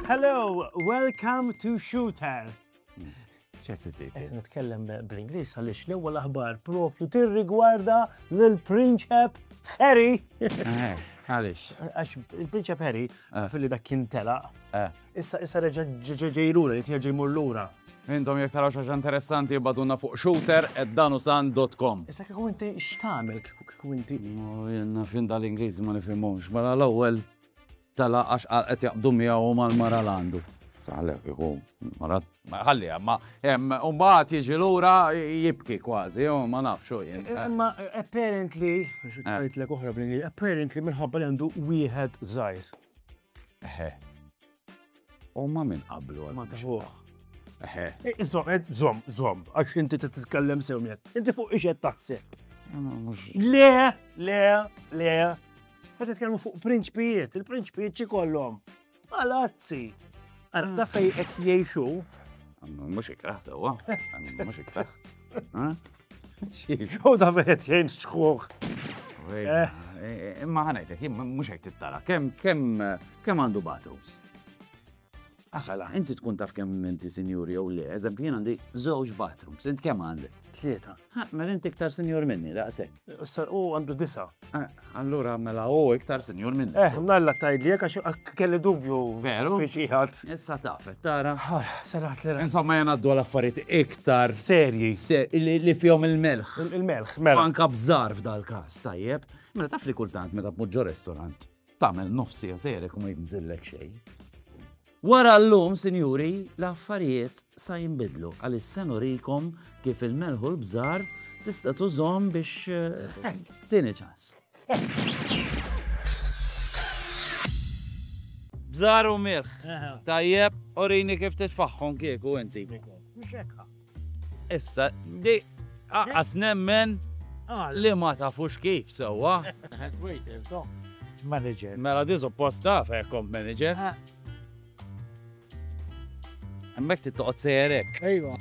Hello, welcome to Shooter. Qed nitkellem bl-Ingliż għaliex l-ewwel aħbar propju tirrigwarda lill-Prinċep Harry. Eh, għaliex. Għax il-Prinċep Harry eh. fil-li dak kien telaq. Eh. Issa issa reġa' ġej lura, jrid jerġa' jmur lura. Intom jekk taraw xi ħaġa interessanti ibgħatulna fuq shooter@danusan.com. Issa kieku inti x'tagħmel kieku inti? Jenna fin dal-Ingliż ma nifhimhomx, mela l-ewwel tala għax qed jaqbdu miegħu mal-mara l għandu. Taħlek kieku mara ħalli ma mbagħad jiġi lura jibki kważi, ma nafx u jien. Imma apparently, xi tgħidlek oħra bl-Ingliż, apparently minħabba li għandu wieħed żgħir. Eħe. Huma minn qablu għal. Madħuħ. Eħe. Iżom, eh, zom, eh, zom, għax inti titkellem sewmiet. Inti fuq iġed taħseb. Le, le, le. Għed titkellmu fuq prinċpijiet, il-prinċpijiet ċi kollom. Palazzi. Għara, ta' fej qed jgħixu. Mhux ikraħ sewwa. Mhux ikraħ. U da vedet jgħin xħuħ. Imma ħanajtek, mux għajt t-tara, kem, kem, kem għandu battles? Għasala, inti tkun taf kem inti senjuri jew le, eżempju jien għandi żewġ bathrooms, int kem għandi? Tlieta. Mela inti iktar senjur minni, daqsek. U għandu disa. Ah, Allura mela hu iktar sinjur minn. Eh, mnalla tajdli għax kelli dubju. Veru? Biex iħat. Issa tafet, tara. Serat li Insomma jena għaddu għal-affariet iktar. Serji. Li fjom il-melħ. Il-melħ, mela. Anka bżar f'dal-kas, tajjeb. Mela taf li kultant meta b'muġġo restorant. Tamel nofsi għasere kum jibżillek xej. Wara llum, sinjuri, l-affarijiet sa jinbidlu għaliex se nurikom kif il-melħ u l-bżar tista' tużhom biex eh, tieni ċans. Bżar u milħ. Tajjeb, orini kif titfaħħom kieku inti. Issa, di, aqqas nemmen li ma tafux kif sewwa. Head waiter, so. Manager. Mela di suppost taf hekk kont manager. Hemmhekk trid toqgħod sejjerek. Ejwa.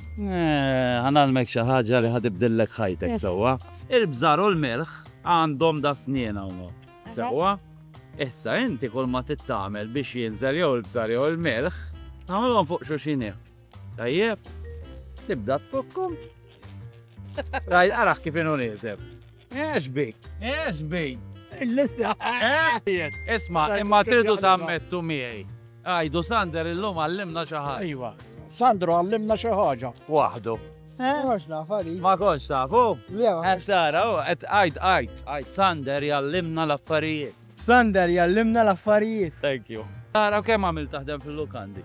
Ħanalmek xi ħaġa li ħadibdillek ħajtek sewwa. Il-bżar u l-milħ għandhom da snien hawnhekk. Sewwa? Issa inti kull ma tittamel biex jinżel jew il-bżar jew il-milħ, tagħmilhom fuq xuxin hekk. Tajjeb, tibda tkokkom. Raj, araħ kif inu nizem. Eħx bik, eħx bik. Isma, imma tridu tammettu miegħi. Għajdu Sander illum għallimna xi ħaġa. Iva, Sandro għallimna xi ħaġa. Waħdu. Ma konx tafu? Għax tara, għed għajd, għajd, għajd, Sander jallimna l-affarijiet. Sander jallimna l-affarijiet. Thank you. Tara kemm għamil taħdem fil-lukandi.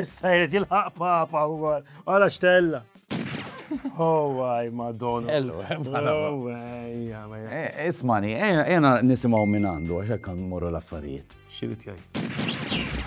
Issa jrid jilħaq papa u għal, għala xtella. Oh, għaj, madonna. Ismani, jena nisimaw minn għandu, għaxek kan morru l-affarijiet. Xirrit jgħid.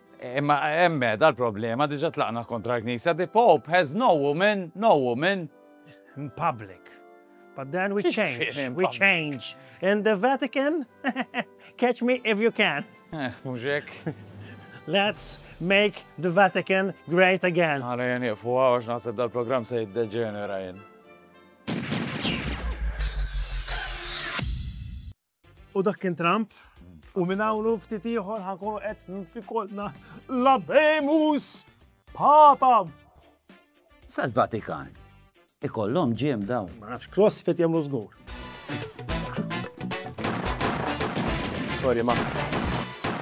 Imma hemm qiegħda l-problema, diġà tlaqna kontra l-Knisja, the Pope has no woman, no woman. In public. But then we change, we change. In the Vatican, catch me if you can. Eh, mhux hekk. Let's make the Vatican great again. Għana jen jifu għax naħseb dal-program se jiddeġenera jen. U dak kien Trump, u minn hawn u ftit ieħor ħankunu qed nfikolna l-abemus patam. Sal-Vatikan. Ikollhom ġiem dawn. Ma nafx CrossFit jagħmlu żgur. Sorry ma.